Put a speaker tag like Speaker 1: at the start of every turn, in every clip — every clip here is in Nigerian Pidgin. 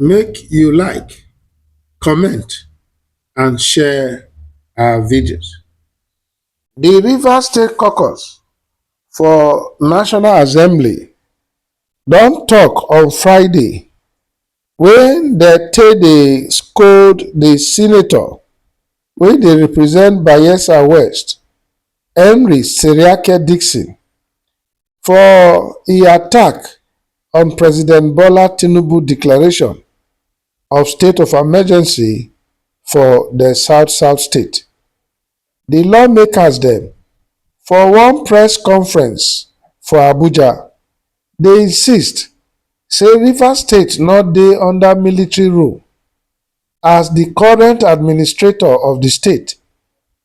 Speaker 1: make you like, comment and share our videos. The Rivers State Caucus for National Assembly don talk on Friday when they take dey scold the senator wey dey represent Bayelsa West, Henry Seriake Dickson for e attack on President Bola Tinubu declaration of state of emergency for the South South state. The lawmakers dem for one press conference for Abuja dey insist say Rivers state no dey under military rule as the current administrator of the state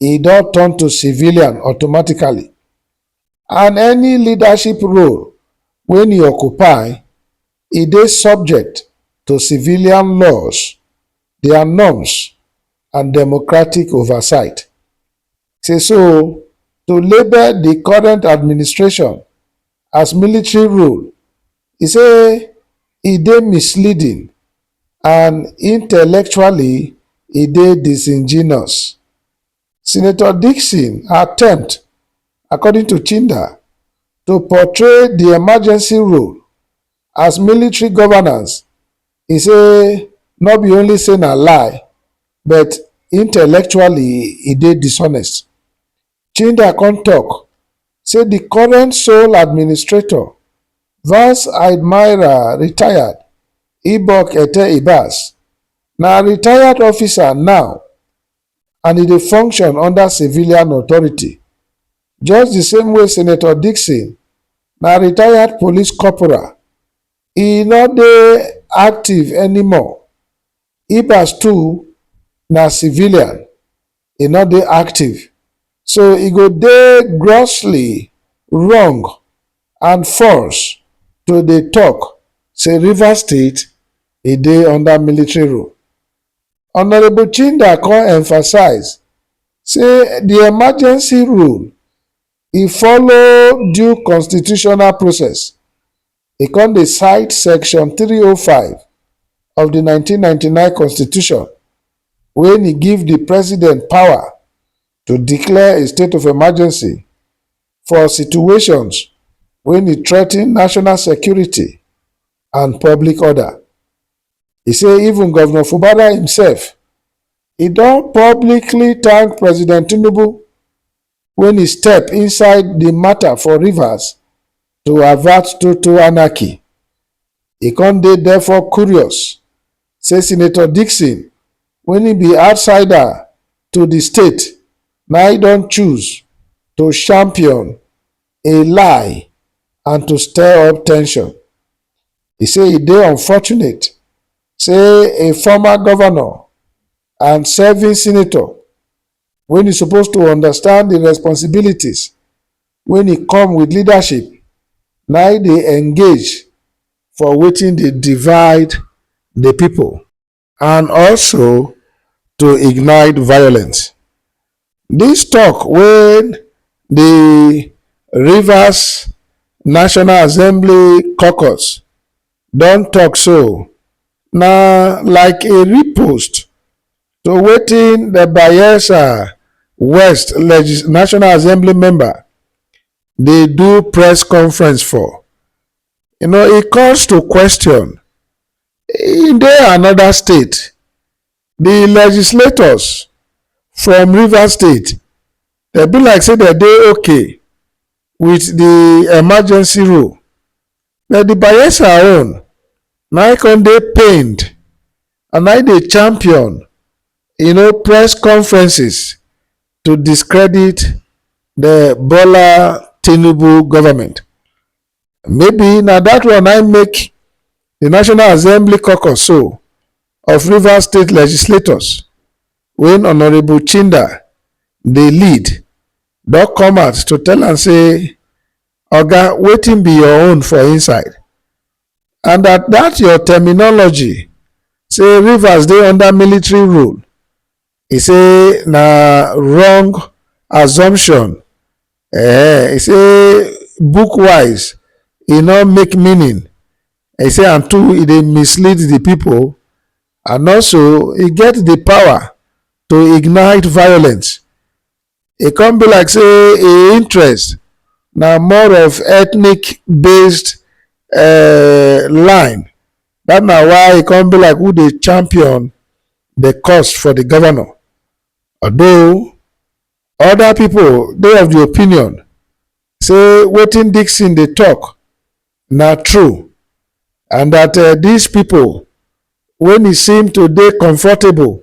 Speaker 1: e don turn to civilian automatically and any leadership role wey e occupy e dey subject to civilian laws, dia norms and democratic oversight. Say so to label di current administration as military rule e say e dey misleading and intellectually e dey disingenuous. Senator Dickson attempt, according to Chinda, to portray di emergency rule as military governance, e say no be only say na lie but intellectually e dey dishonest. Chinda come tok say di current sole administrator, Vice Admiral Retired Ibok Ete Ibas, na retired officer now and e dey function under civilian authority, just di same way Senator Dickson na retired police corporal, e no dey active anymore. Ibas too na civilian e no dey active so e go dey grossly wrong and false to dey tok say Rivers State e dey under military rule. Honourable Chinda come emphasise say di emergency rule e follow due constitutional process E come dey cite Section three oh five of di nineteen ninety nine Constitution wen e give di President power to declare a state of emergency for situations wen e threaten national security and public order. E say even Govnor Fubara imsef e don publicly thank President Tinubu when e step inside the matter for Rivers to avert total anarchy. E come dey therefore curious say Senator Dickson when e be outsider to the state na e don choose to champion a lie and to stir up tension. E say e dey unfortunate say a former governor and serving senator when you suppose to understand the responsibilities when e come with leadership na e dey engage for wetin dey divide the people and also to ignite violence. This talk wey the Rivers National Assembly caucus don talk so na like a repost So wetin the Bayelsa West Legis National Assembly member dey do press conference for? You know e calls to question e dey another state, the legislators from Rivers state dey be like say dem dey okay with the emergency rule but the Bayelsa own na im come dey pained and i dey champion you know press conferences to discredit the bola tinubu government maybe na that one i make the national assembly caucus so of rivers state legislators when honourable chinda dey lead don come out to tell am say oga wetin be your own for inside and that that your terminology say Rivers dey under military rule, he say na wrong assumption. Eh, he say book wise e no make meaning. He say and two e dey mislead the people and also e get the power to ignite violence e come be like say im interest na more of ethnic based um line dat na why e come be like who dey champion di cause for di govnor although oda pipo dey of di opinion say wetin dickson dey tok na true and dat dis pipo wey e seem to dey comfortable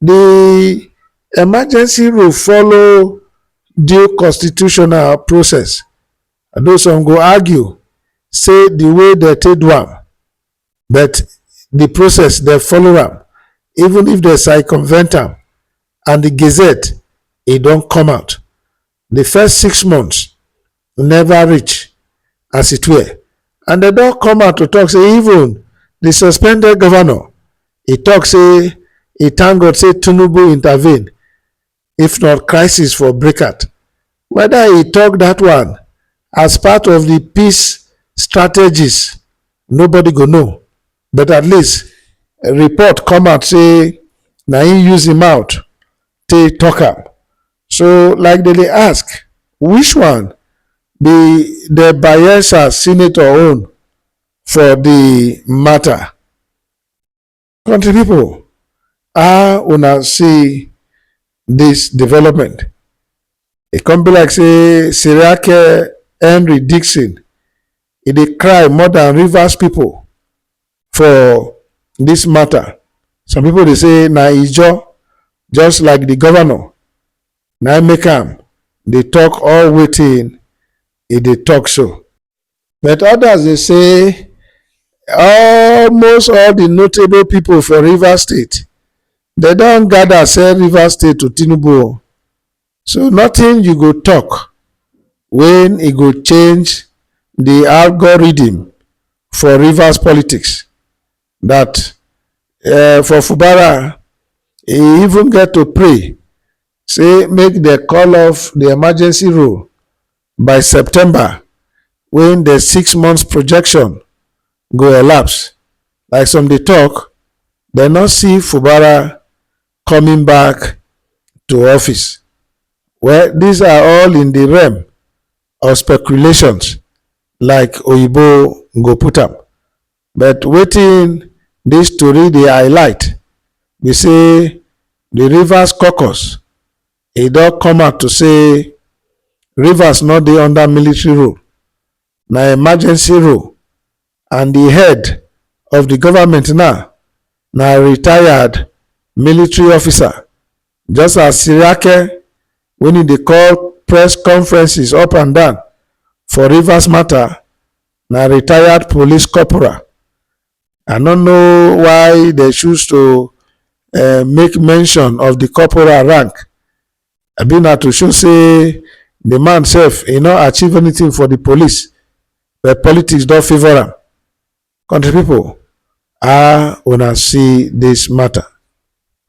Speaker 1: Di emergency rule follow due constitutional process, although some go argue say di way dem take do am but di process dem follow am even if dem circumvent am and di gazette e don come out. Di first six months neva reach as e twer and dem don come out to tok say even di suspended govnor e tok say e thank God say Tinubu intervene if not crisis for breakout. Weda e tok dat one as part of di peace strategies nobody go know but at least report come out say na im use im mouth take talk am. So like dem dey ask which one be the Bayelsa senator own for the matter? Country people, how una see this development? E come be like say Seriake Henry Dixon e dey cry more than Rivers people for this matter. Some people dey say na Ijaw just like the governor na im make am dey talk all wetin e dey talk so. But others dey say almost all the notable people for Rivers State dem don gather sell Rivers State to Tinubu o. So nothing you go talk when e go change the algorithm for Rivers politics that um for Fubara e even get to pray say make dem call off the emergency rule by September when the six months projection go elapse. Like some dey talk dem no see Fubara coming back to office. Well, these are all in the realm of speculations, like Oyibo go put am. But wetin this story dey highlight be say the Rivers caucus e don come out to say Rivers no dey under military rule, na emergency rule and di head of di goment now na retired military officer just as siriake wey e dey call press conferences up and down for rivers mata na retired police corporal i no know why dem choose to make mention of di corporal rank abi na to show say the man sef e no achieve anything for the police but politics don favour am country people how una see this matter